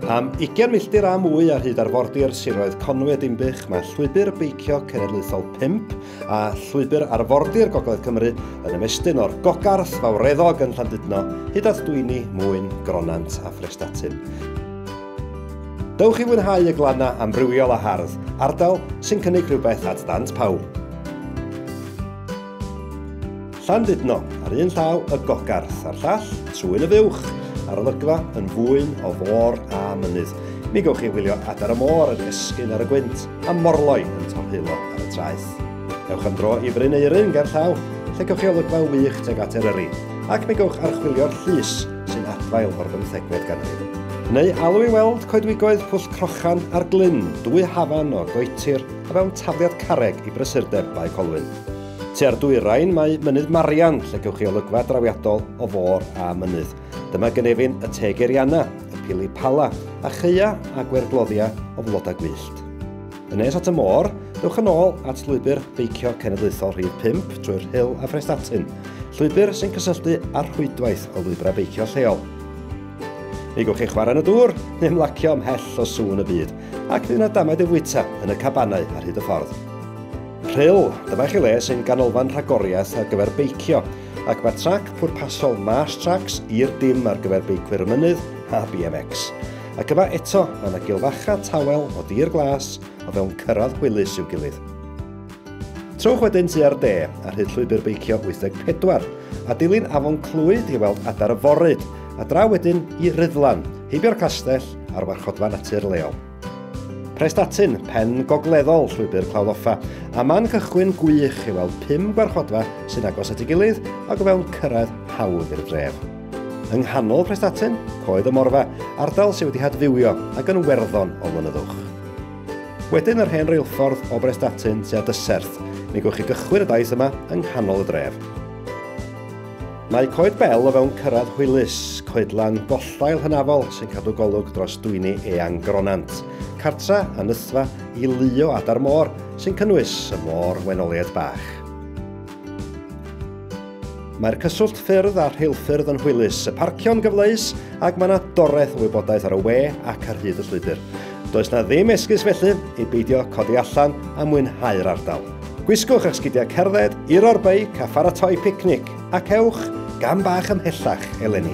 Am 20 milltir a mwy ar hyd arfordir siroedd Conwy a Dinbych, mae llwybr beicio cenedlaethol 5 a llwybr arfordir Gogledd Cymru yn ymestyn o'r Gogarth Fawreddog yn Llandudno hyd at Dwyni, Mwyn, Gronant a Phrestatyn. Dewch i fwynhau y glannau amrywiol a hardd, ardal sy'n cynnig rhywbeth at ddant pawb. Llandudno, ar un llaw y gogarth a'r llall, trwy'n y fuwch, a'r olygfa yn fwyn o fôr a mynydd. Mi gewch chi wylio adar y môr yn esgyn ar y gwynt a morloi yn torheulo ar y traeth. Ewch am dro i Fryn Eirin ger llaw, lle gewch chi olygfa wych tuag at Eryri, ac mi gewch archwilio'r llys sy'n adfail o'r bymthegfed ganrif. Neu alw i weld coedwigoedd Pwll Crochan ar glyn dwy hafan o goetir a mewn tafliad carreg i brysurdeb Bae Colwyn. Tua'r dwyrain mae Mynydd Marian lle gewch chi olygfa drawiadol o fôr a mynydd. Dyma gynefin y Teg Eriana, y Pili Pala, a chaea a gwergloddia o flodau gwyllt. Yn nes at y môr, dewch yn ôl at Lwybr Beicio Cenedlaethol Rhif 5 drwy'r Rhyl a Phrestatyn, llwybr sy'n cysylltu â'r rhwydwaith o lwybrau beicio lleol. Mi gwch chi chwarae yn y dŵr neu ymlacio ymhell o sŵn y byd, ac bydd yna damaid yn fwyta yn y cabanau ar hyd y ffordd. Rhyl, dyma chi le sy'n ganolfan rhagoriaeth ar gyfer beicio, ac mae trac pwrpasol Marsh Tracks i'r dim ar gyfer beicwyr y mynydd a BMX. Ac yma eto, mae yna gilfacha tawel o dir glas o fewn cyrraedd hwylus i'w gilydd. Trowch wedyn tu ar de, ar hyd llwybr beicio 84, a dilyn afon Clwyd i weld adar y foryd, a draw wedyn i Ryddlan, heibio'r castell a'r warchodfa natur leol. Prestatyn, pen gogleddol llwybr Clawddoffa, a man cychwyn gwych i weld pum gwarchodfa sy'n agos at ei gilydd ac o fewn cyrraedd hawdd i'r dref. Yng nghanol Prestatyn, Coed y Morfa, ardal sydd wedi hadfywio ac yn werddon o flynyddwch. Wedyn yr hen reilffordd o Brestatyn tua Dyserth, mi gwch chi gychwyn y daith yma yng nghanol y dref. Mae Coed Bel o fewn cyrraedd hwylus, coedlan bollail hynafol sy'n cadw golwg dros dwyni eang Gronant, cartra a nythfa i luo adar môr sy'n cynnwys y môr wenoliaid bach. Mae'r cyswllt ffyrdd a rheilffyrdd yn hwylus, y parcio'n gyfleus ac mae yna doreth o wybodaeth ar y we ac ar hyd y llwybr. Does na ddim esgus felly i beidio codi allan a mwynhau'r ardal. Gwisgwch eich sgidiau cerdded, iro'r beic a pharatoi picnic ac ewch gam bach ymhellach eleni.